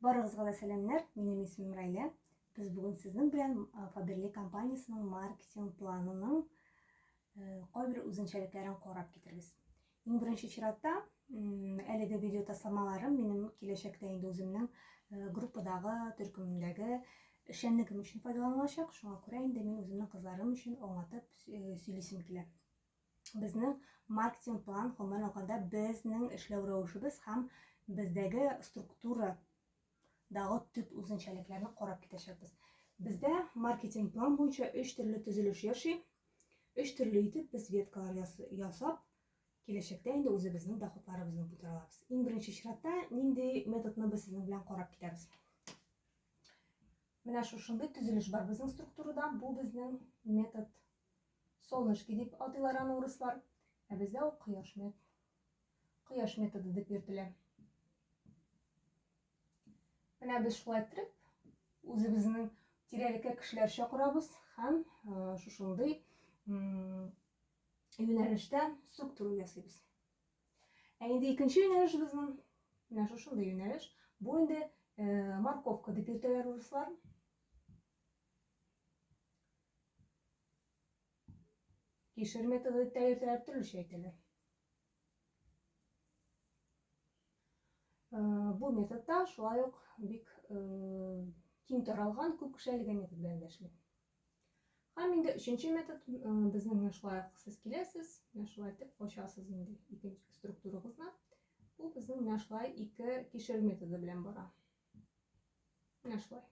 Барыгызга да сәламнәр, минем исемем Райлә. Без бүген сезнең белән Фаберле компаниясенең маркетинг планының кайбер үзенчәлекләрен карап китербез. Иң беренче чиратта, әлеге видео тасламаларым минем киләчәктә инде үземнең группадагы, төркемдәге эшчәнлегем өчен файдаланылачак. Шуңа күрә инде мин үземнең кызларым өчен аңлатып сөйлисем килә. безнең маркетинг план гомумән алганда безнең эшләү рәвешебез һәм бездәге структура дагы төп үзенчәлекләрне карап китәчәкбез. Бездә маркетинг план буенча өч төрле төзелеш яши. Өч төрле итеп без веткалар ясап, киләчәктә инде үзебезнең доходларыбызны күтәрә алабыз. Иң беренче чиратта нинди методны без сезнең белән карап китәбез? Менә шушындый төзелеш бар безнең структурада. Бу безнең метод Солнышки дип атыйлар аны урыслар, ә бездә ул кояш мет. Кояш методы дип йөртелә. Менә без шулай иттереп, үзебезнең тирәлеккә кешеләр чакырабыз һәм шушындый юнәлештә структура ясыйбыз. Ә инде икенче юнәлешебезнең менә шушындый юнәлеш. Бу инде морковка дип йөртәләр урыслар. Кишер методы дип тә йөртәләр, төрлечә әйтәләр. Бу методта шулай ук бик киң таралган, күп кеше әлеге метод белән дә эшли. Һәм инде өченче метод безнең менә шулай ук сез киләсез, менә шулай итеп кочасыз инде икенче структурагызны. Бу безнең менә шулай ике кишер методы белән бара. Менә шулай.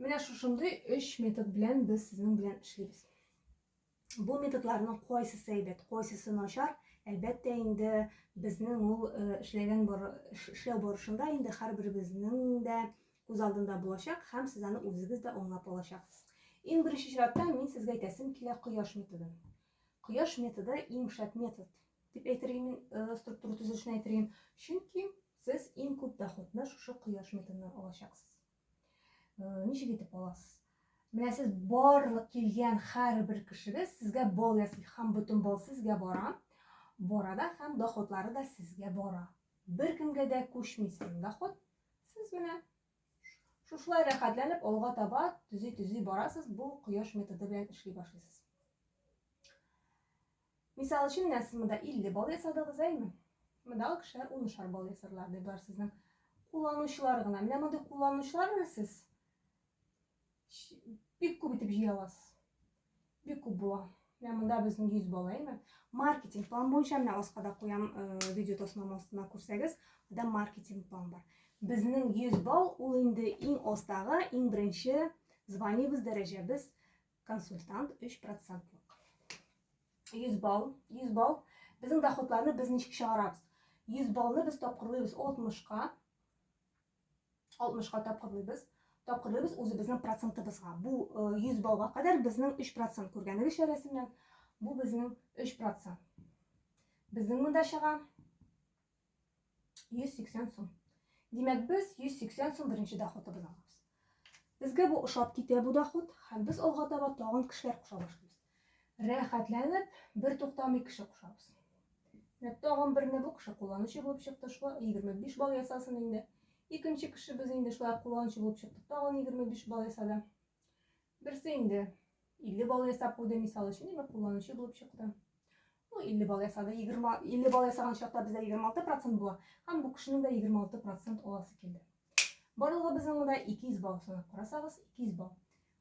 Менә шушындый өч метод белән без сезнең белән эшлибез. Бу методларның кайсысы әйбәт, кайсысы начар, әлбәттә инде безнең ул э, эшләгән бар, эшләү барышында инде һәрберебезнең дә күз алдында булачак һәм сез аны үзегез дә аңлап алачаксыз. Иң беренче чиратта мин сезгә әйтәсем килә кояш методын. Кояш методы иң шәп метод, дип әйтергә мин э, структура төзелешен әйтергә. Чөнки сез иң күп доходны шушы кояш методыннан алачаксыз. Э, ничек итеп аласыз? Менә сез барлык килгән һәрбер кешегез сезгә бал ясый һәм бөтен бал сезгә бара. Бара да һәм доходлары да сезгә бара. Бер кемгә дә күчми сезнең доход. Сез менә Шушылай рәхәтләнеп алга таба төзи-төзи барасыз, бу кояш методы белән эшли башлыйсыз. Мисал өчен, менә сез монда 50 балл ясадыгыз, әйме? Мондагы кешеләр 10 балл ясарлар, ди бар сезнең кулланучылар гына. Менә мондый кулланучылар белән сез бик күп итеп җыя аласыз. Бик күп була. Менә монда безнең 100 бала, әйме? Маркетинг план буенча менә аска да куям, э, видео тасмам астына күрсәгез, анда маркетинг план бар. Безнең 100 балл ул инде иң астагы, иң беренче званиебез, дәрәҗәбез консультант 3%лык. 100 балл, 100 балл. Безнең доходларны без ничек чыгарабыз? 100 баллны без тапкырлыйбыз 60-ка. 60-ка тапкырлыйбыз. Тапкырлыйбыз үзебезнең процентыбызга. Бу 100 балга кадәр безнең 3% күргәнегезчә рәсемнән. Бу безнең 3%. Безнең монда чыга 180 сум. Димәк, без 180 сум беренче доходыбыз алабыз. Безгә бу ошап китә бу доход, һәм без алга таба тагын кешеләр куша башлыйбыз. Рәхәтләнеп, бер туктамый кеше кушабыз. Менә тагын берне бу кеше кулланучы булып чыкты, шулай 25 балл ясасын инде. Икенче кешебез инде шулай кулланучы булып чыкты, тагын 25 балл ясады. Берсе инде 50 балл ясап куйды, мисал өчен, димәк, кулланучы булып чыкты. Ну, 50 балл ясады, 20, 50 балл ясаган чакта бездә 26 процент була, һәм бу кешенең дә 26 процент аласы килде. Барлыгы безнең монда 200 балл санап карасагыз, 200 балл.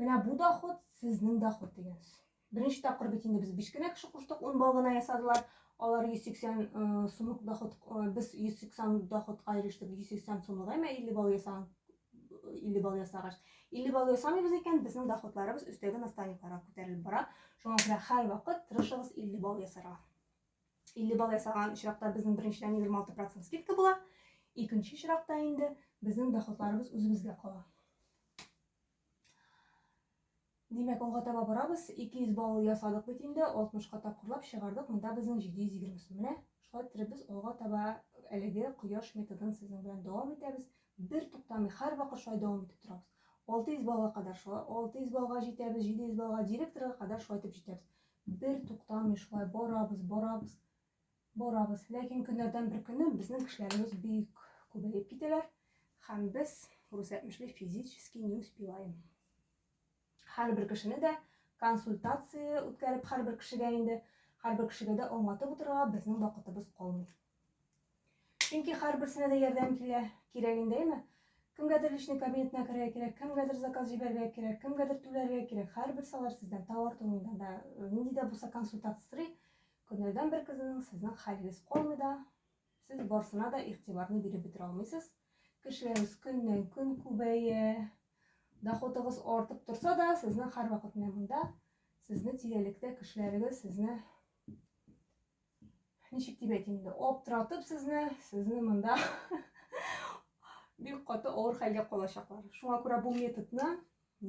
Менә бу доход, сезнең доход дигән. Беренче тапкыр бит инде без биш кенә кеше куштык, 10 балл гына ясадылар. Алар 180 э, сумлык доход, э, без 180 доходка ирештек, 180 сумлык, әмма 50 балл ясаган 50 балл ясагач. 50 балл ясамыйбыз икән, безнең доходларыбыз өстәге наставникларга күтәрелеп бара. Шуңа күрә һәрвакыт тырышыгыз 50 балл ясарга. 50 балл ясаган очракта безнең беренчедән 26 процент скидка була. Икенче очракта инде безнең доходларыбыз үзебезгә кала. Димәк, алга таба барабыз. 200 балл ясадык бит инде, 60-ка тапкырлап чыгардык. Монда безнең 720 сум. Менә шулай итеп без алга таба әлеге кояш методын сезнең белән дәвам итәбез. Бер туктамый, һәр вакыт шулай дәвам итеп торабыз. 600 баллга кадәр шулай, 600 баллга җитәбез, 700 баллга директорга кадәр шулай итеп җитәбез. Бер туктамый шулай барабыз, барабыз, барабыз. Ләкин көннәрдән бер көнне безнең кешеләребез бик күбәеп китәләр һәм без күрсәтмешли физически не успеваем. Һәрбер кешене дә консультация үткәреп һәрбер кешегә инде һәрбер кешегә дә аңлатып утырырга безнең вакытыбыз калмый. Чөнки һәрберсенә дә ярдәм килә, кирәк инде, әйме? Кемгәдер личный кабинетына керергә кирәк, кемгәдер заказ җибәрергә кирәк, кемгәдер түләргә кирәк. Һәрберсе алар сездән товар турында да, э, нинди дә булса консультация сорый. Көннәрдән бер көннең сезнең хәлегез калмый да, сез барсына да игътибарны биреп бетерә алмыйсыз. Кешеләрегез көннән көн күбәя, доходыгыз артып торса да, сезнең һәрвакыт менә монда, сезне тирәлектә кешеләрегез сезне ничек дип әйтим инде аптыратып сезне сезне монда бик каты авыр хәлгә калачаклар шуңа күрә бу методны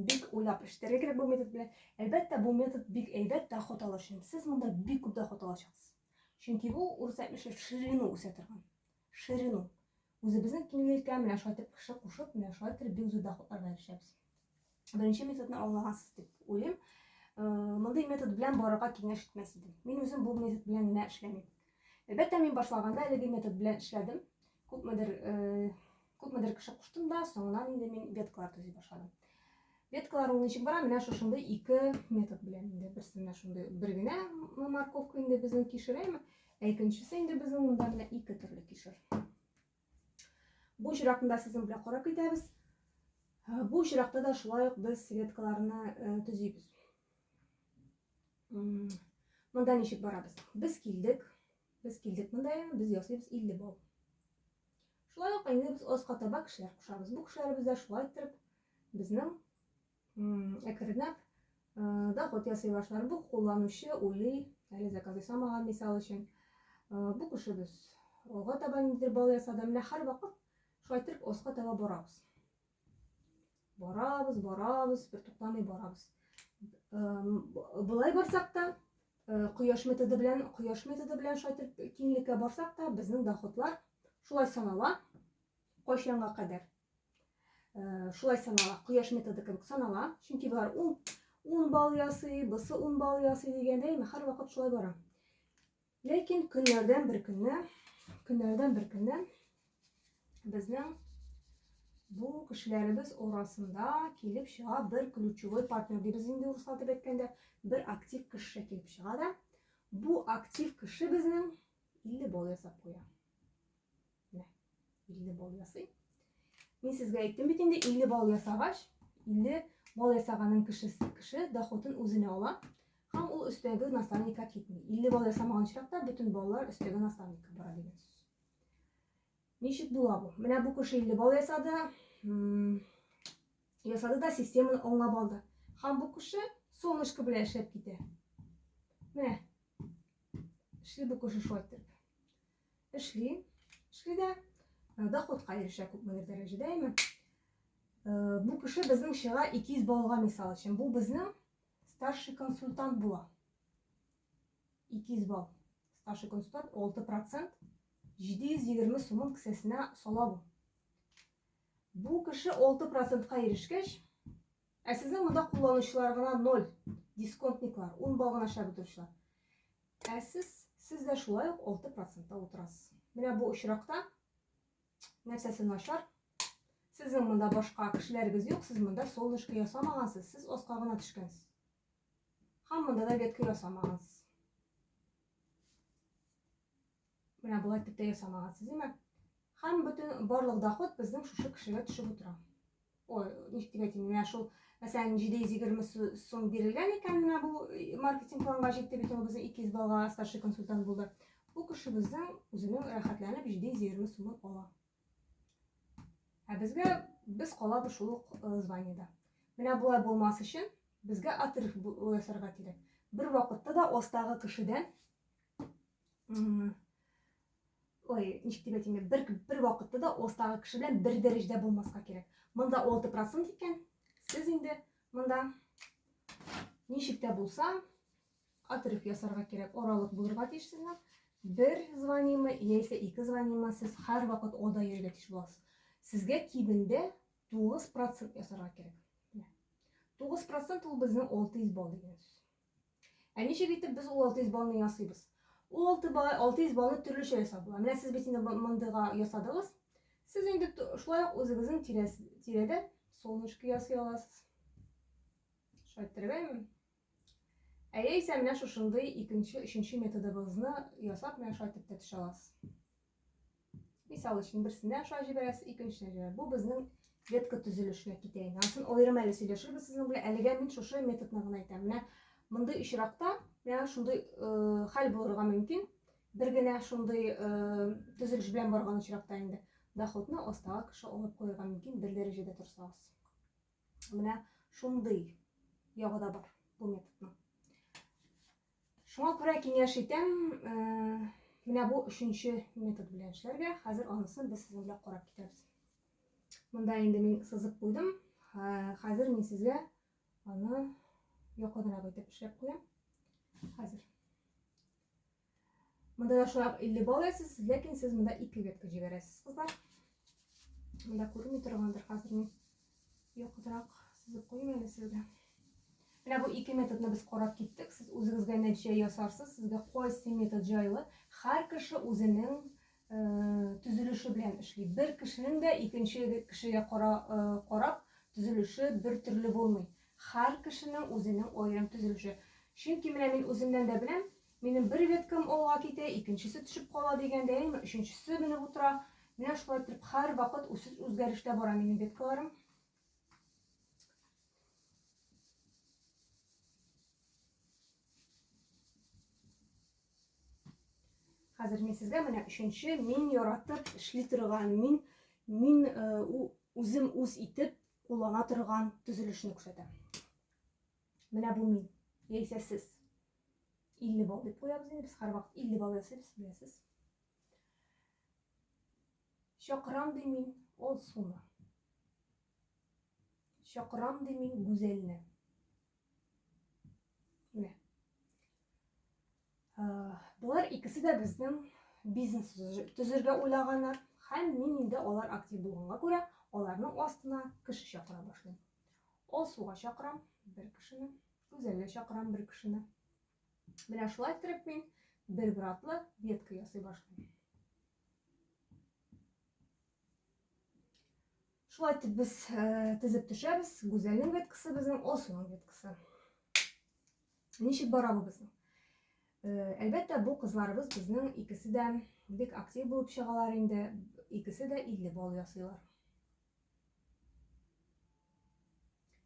бик уйлап эшләргә кирәк бу метод белән әлбәттә бу метод бик әйбәт доход алу өчен сез монда бик күп доход алачаксыз чөнки бу урыс әйтмешли в ширину үсә торган Ширину. Үзебезнең киңлелеккә менә шулай итеп кеше кушып, менә шулай итеп бик зур доходларга ирешәбез. Беренче методны аңлагансыз дип уйлыйм. Мондый метод белән барырга киңәш итмәс идем. Мин үзем бу метод белән генә эшләмим. Әлбәттә, мин башлаганда әлеге метод белән эшләдем. Күпмедер күпмедер кеше куштым да, соңыннан инде мин веткалар төзи башладым. Веткалар ул ничек бара? Менә шушындый ике метод белән инде. Берсе менә шундый бер генә морковка инде безнең кишерем. Ә икенчесе инде безнең монда менә ике төрле кишер. Бу очракында сезнең белән карап китәбез. Бу очракта да шулай ук без светкаларны төзибез. Монда ничек барабыз? Без килдек. Без килдек монда, без ясыйбыз 50 бал. Шулай ук инде без аска таба кешеләр кушабыз. Бу кешеләребез дә шулай иттереп безнең әкренләп доход ясый башлар. Бу кулланучы уйлый, әле заказ ясамаган, мисал өчен. Бу кешебез алга таба ниндидер бал ясады. Менә һәрвакыт шулай итеп оска таба барабыз. Барабыз, барабыз, бер туктамый барабыз. Былай барсак та, кояш методы белән, кояш методы белән шулай итеп киңлеккә барсак та, безнең доходлар шулай санала. Кайчанга кадәр? Э, шулай санала кояш методы кебек санала чөнки болар ун ун балл ясый бысы ун балл ясый дигәндәй һәрвакыт шулай бара ләкин көннәрдән бер көнне көннәрдән бер көнне безнең бу кешеләребез арасында килеп чыга бер ключевой партнер дибез инде урыслар дип әйткәндә бер актив кеше килеп чыга да бу актив кеше безнең илле балл ясап куя Менә 50 бал ясый. Мин сезгә әйттем бит инде 50 бал ясагач, 50 бал ясаганын кеше кеше доходын үзенә ала һәм ул өстәге наставникка китми. 50 бал ясамаган очракта бөтен баллар өстәге наставникка бара дигән сүз. Ничек була бу? Менә бу кеше 50 бал ясады, ясады да системаны оңлап алды. Һәм бу кеше солнышко белән эшләп китә. Менә. Эшли бу кеше шулай итеп. Эшли, эшли дә, э, доходка ирешә күпмедер дәрәҗәдә, әйме. Э, бу кеше безнең чыга 200 баллга мисал өчен. Бу безнең старший консультант була. 200 балл. Старший консультант 6%. 720 сумын кесәсенә сала бу. Бу кеше 6%-ка ирешкәч, Ә сезнең монда кулланучылар гына ноль, дисконтниклар, ун бал гына чабып торучылар. Ә сез, сез дә шулай ук алты процентта утырасыз. Менә бу очракта нәрсәсе начар? Сезнең монда башка кешеләрегез юк, сез монда солнышко ясамагансыз, сез аска гына төшкәнсез. Һәм монда да ветка ясамагансыз. Менә болай итеп тә ясамагансыз, димә. Һәм бөтен барлык доход безнең шушы кешегә төшеп утыра. Ой, ник дип әйтим, менә шул, мәсәлән, 720 сум бирелгән икән менә бу э, маркетинг планга җитте бит ул безнең икиз балга старший консультант булды. Бу кеше безнең үзенең рәхәтләнеп 720 сумын ала. Ә безгә без калабыз шул ук э, званиедә. Менә болай булмас өчен безгә отрыв ясарга кирәк. Бер вакытта да остагы кешедән ой ничек дип әйтим бер бер вакытта да остагы кеше белән бер дәрәҗәдә булмаска кирәк монда алты процент икән сез инде монда ничек тә булса отрыв ясарга кирәк аралык булырга тиеш сезгә бер звонимы яисә ике звонимы сез һәрвакыт алда йөрергә тиеш буласыз сезгә кимендә тугыз процент ясарга кирәк тугыз процент ул безнең алты йөз балл дигән сүз Ә ничек итеп без ул 600 баллны ясыйбыз? Ул 6 балл, 600 баллны төрлечә ясап була. Менә сез бит инде мондыйга ясадыгыз. Сез инде шулай ук үзегезнең тирәдә солнышко ясый аласыз. Шулай иттерергәме? Ә яисә менә шушындый икенче, өченче методыбызны ясап, менә шулай итеп тә төшә аласыз. Мисал өчен, берсенә аша җибәрәсез, икенчесенә җибәрәсез. Бу безнең ветка төзелешенә китә инде. Анысын аерым әле сөйләшербез сезнең белән. Әлегә мин шушы методны гына әйтәм. Менә мондый очракта менә шундый э, хәл булырга мөмкин. Бер генә шундый э, төзелеш белән барган очракта инде доходны астагы кеше алып куярга мөмкин бер дәрәҗәдә торсагыз. Менә шундый ягы да бар бу методның. Шуңа күрә киңәш итәм, э, менә бу өченче метод белән эшләргә. Хәзер анысын без сезнең белән карап китәбез. Монда инде мин сызып куйдым. Э, хәзер мин сезгә аны якынрак итеп эшләп куям. Хәзер. Монда да шулай 50 балл ясыз, ләкин сез монда 2 ветка җибәрәсез, кызлар. Монда күренми торгандыр хәзер мин. Якытрак сызып куймы әле сезгә? Менә бу ике методны без карап киттек. Сез үзегезгә нәтиҗә ясарсыз. Сезгә кайсы метод җайлы? Һәр кеше үзенең э, төзелеше белән эшли. Бер кешенең дә икенче кешегә кара, э, карап төзелеше бер төрле булмый. Һәр кешенең үзенең аерым төзелеше. Чөнки менә мин үземнән дә беләм, Минем бер веткам алга китә, икенчесе төшеп кала дигәндә, әйеме, өченчесе менеп утыра. Менә шулай итеп һәрвакыт үсеш үзгәрештә бара минем веткаларым. Хәзер мин сезгә менә өченче мин яратып эшли торган, мин мин э, үзем үз итеп куллана торган төзелешне күрсәтәм. Менә бу мин. Яисә сез. 50 балл дип куябыз инде, без һәрвакыт 50 балл ясыйбыз, беләсез. Чакырам ди мин ул суны. Чакырам ди мин гүзәлне. Менә. Болар икесе дә безнең бизнес төзергә уйлаганнар һәм мин инде алар актив булганга күрә, аларның астына кеше чакыра башлыйм. Алсуга чакырам бер кешене, Гүзәлгә чакырам бер кешене. Менә шулай иттереп мин бер братлы ветка ясый башлыйм. Шулай итеп без тезеп төшәбез. Гүзәлнең веткасы безнең, Осуның веткасы. Ничек бара бу безнең? Әлбәттә, бу кызларыбыз безнең икесе дә бик актив булып чыгалар инде. Икесе дә 50 балл ясыйлар.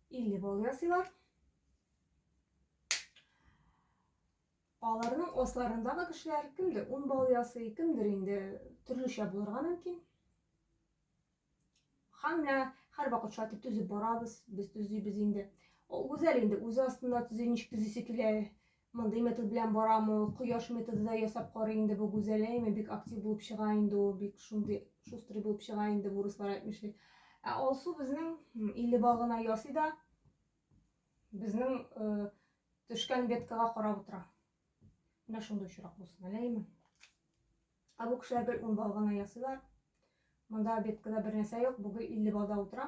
50 балл ясыйлар. Аларның асларындагы кешеләр кемдер ун бал ясый, кемдер инде төрлечә булырга мөмкин. Һәм менә һәрвакыт шулай итеп төзеп барабыз, без төзибез инде. Ул гүзәл инде үзе астында төзи, ничек төзисе килә, мондый метод белән барамы, кояш методы да ясап карый инде бу гүзәл, әйме бик актив булып чыга инде ул, бик шундый шустрый булып чыга инде, бурыслар әйтмешли. Ә Алсу безнең 50 бал гына ясый да, Безнең э, төшкән беткага карап утыра. Менә шундый очрак булсын, әләйме? Ә бу кешеләр гел ун бал гына ясыйлар. Монда беткада бер нәрсә юк, бүген 50 балда утыра.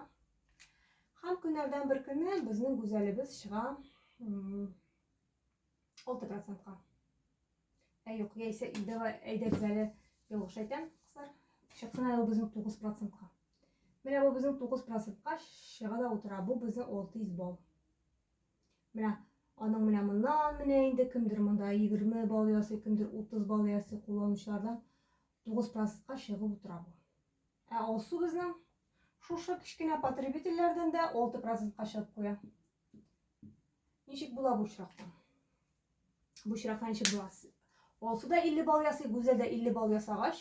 Һәм көннәрдән бер көнне безнең гүзәлебез чыга 6%-ка. Ә юк, яисә давай әйдәгез әле ялгыш әйтәм, кызлар. Чыксын әле безнең 9%-ка. Менә бу безнең 9%-ка чыга да утыра. Бу безнең 600 балл. Менә аның менә моннан менә инде кемдер монда 20 балл ясый, кемдер 30 балл ясый кулланучылардан 9%-ка чыгып утыра бу. Ә алсу безнең шушы кечкенә потребительләрдән дә 6%-ка чыгып куя. Ничек була бу очракта? Бу очракта ничек була? Алсу да 50 балл ясый, Гүзәл дә 50 балл ясагач,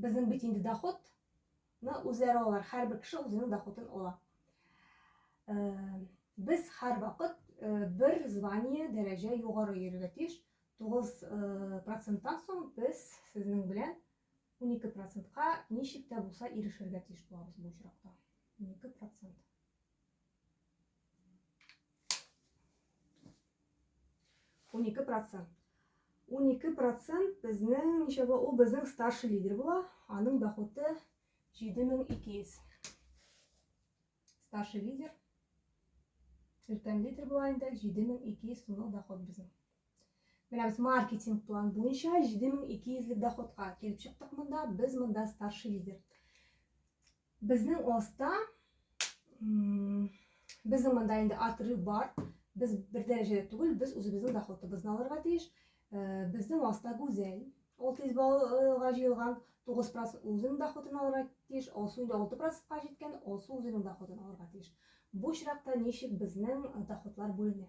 безнең бит инде доход ны үзләре алар. Һәрбер кеше үзенең доходын ала. Э, без һәр вакыт э, бер звание, дәрәҗә югары йөрергә тиеш. 9 э, проценттан соң без сезнең белән 12 процентка ничек тә булса ирешергә тиеш булабыз бу очракта. 12 процент. 12 процент. 12 процент безнең ничә була? Ул безнең старший лидер була. Аның дохоты 7200. Старший лидер. Өлкән лидер була инде 7200 сумлык доход безнең. Менә без маркетинг план буенча 7200 лек доходка килеп чыктык монда. Без монда старший лидер. Безнең оста, безнең монда инде отрыв бар. Без бер дәрәҗәдә түгел, без үзебезнең доходыбызны алырга тиеш. Э, безнең оста Гүзәл. Ул тиз балга җыелган 9 процент үзенең доходын алырга тиеш, Алсу инде 6 процентка җиткән, Алсу үзенең доходын алырга тиеш. Бу чиракта ничек безнең доходлар бүленә?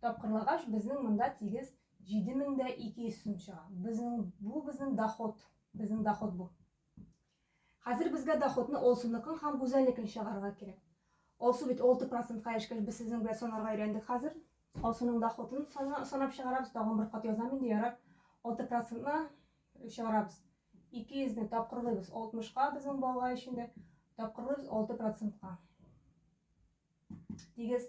Тапкырлагач, безнең монда тигез 7200 сум чыга. Безнең бу безнең доход, безнең доход бу. Хәзер безгә доходны Олсуныкын һәм Гүзәлнекен чыгарырга кирәк. Олсу бит 6 процентка эшкәш, без сезнең белән санарга өйрәндек хәзер. Олсуның доходын санап чыгарабыз, тагын бер кат язам инде, ярар. 6 процентны чыгарабыз. 200 не тапкырлыйбыз 60-ка безнең балга өчен дә тапкырлыйбыз 6 процентка. Тигез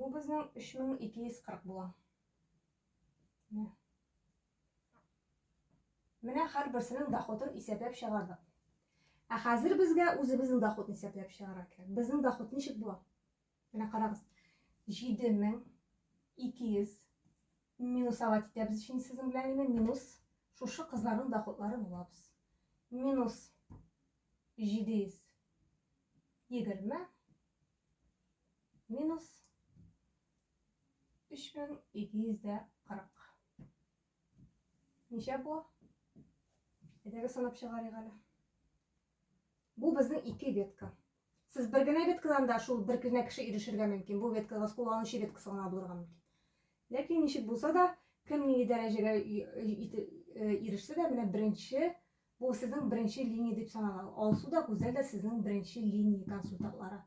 Бу безнең 3240 була. Менә. Менә һәрберсенең доходын исәпләп чыгардык. Ә хәзер безгә үзебезнең доходны исәпләп чыгарга кирәк. Безнең доход ничек була? Менә карагыз. 7200 минусовать итәбез өчен сезнең белән инде минус шушы кызларның доходлары булабыз. Минус 720 минус 3240. Ничә бу? Әйдәгез санап чыгарыйк әле. Бу безнең ике ветка. Сез бер генә веткадан да шул бер генә кеше ирешергә мөмкин. Бу веткага кулланучы веткасы гына булырга мөмкин. Ләкин ничек булса да, кем нинди дәрәҗәгә ирешсә дә, менә беренче Бу сезнең беренче линия дип санала. Алсу да, Гүзәл дә сезнең беренче линия консультантлары.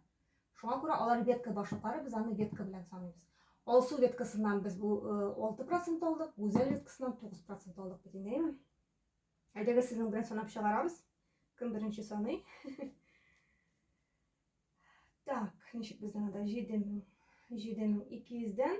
Шуңа күрә алар ветка башлыклары, без аны ветка белән саныйбыз. Алсу веткасыннан без бу 6% алдык, Гүзәл веткасыннан 9% алдык бит инде, әйеме? Әйдәгез сезнең белән санап чыгарабыз. Кем беренче саный? Так, ничек безнең анда 7000 7200 дән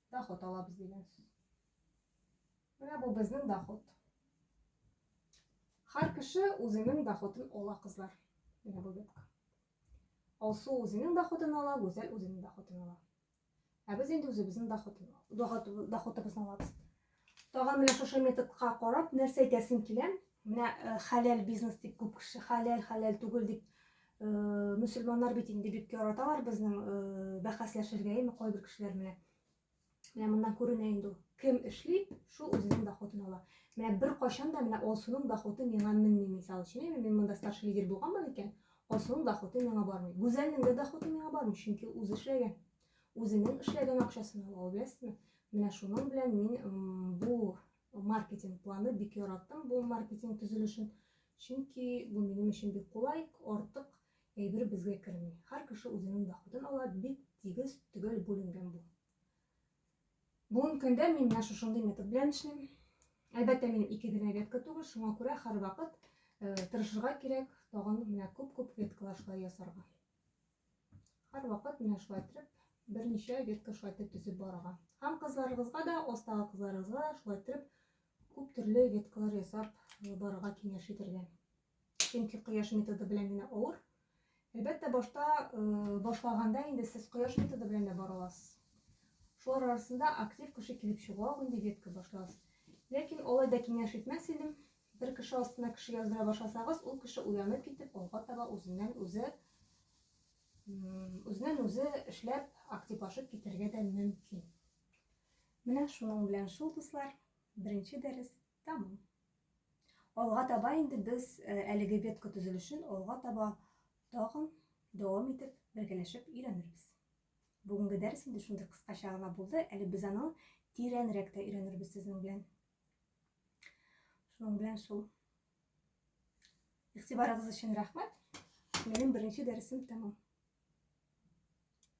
Доход алабыз дигән сүз. Менә бу безнең доход. Һәр кеше үзенең доходын ала, кызлар. Менә бу бетка. Алсу үзенең доходын ала, Гүзәл үзенең доходын ала. Ә без инде үзебезнең доходыбызны алабыз. Тагын менә шушы методка карап нәрсә әйтәсем килә? Менә э, хәләл бизнес дип күп кеше хәләл, хәләл түгел дип э, мөселманнар бит инде бик яраталар безнең э, бәхәсләшергә, яме кайбер кешеләр менә. Менә моннан күренә инде ул. Кем эшли, шул үзенең дохотын ала. Менә бер кайчан да менә Алсуның дохоты миңа менми, мисал өчен, яме мин монда старший лидер булганмын икән, Алсуның дохоты миңа бармый. Гүзәлнең дә дохоты миңа бармый, чөнки үзе эшләгән. Үзенең эшләгән акчасын ала ул, беләсезме? Менә шуның белән мин бу маркетинг планы бик яраттым, бу маркетинг төзелешен. Чөнки бу минем өчен бик кулай, артык әйбер безгә керми. Һәр кеше үзенең доходын ала, бик тигез, төгәл бүленгән бу. Бүгенге көндә мин менә шушындый метод белән эшлим. Әлбәттә, минем ике генә ветка түгел, шуңа күрә һәрвакыт э, тырышырга кирәк, тагын менә күп-күп веткалар шулай ясарга. Һәрвакыт менә шулай итеп берничә ветка шулай итеп төзеп барырга. Һәм кызларыгызга да, остагы кызларыгызга да шулай итеп күп төрле веткалар ясап барырга киңәш итәргә. Чөнки кояш методы белән генә авыр. Әлбәттә, башта башлаганда инде сез кояш методы белән дә бара аласыз. Шулар арасында актив кеше килеп чыгуга инде ветка башлас. Ләкин алай да киңәш итмәс идем, Бер кеше астына кеше яздыра башласагыз, ул кеше уянып китеп, алга таба үзеннән үзе үзеннән үзе эшләп, активлашып китәргә дә мөмкин. Менә шуның белән шул, дуслар, беренче дәрес тәмам. Алга таба инде без э, әлеге ветка төзелешен алга таба тагын дәвам итеп, бергәләшеп өйрәнербез. Бүгенге дәрес инде шундый кыскача гына булды, әле без аны тирәнрәк тә өйрәнербез сезнең белән. Шуның белән шул. Игътибарыгыз өчен рәхмәт. Минем беренче дәресем тәмам.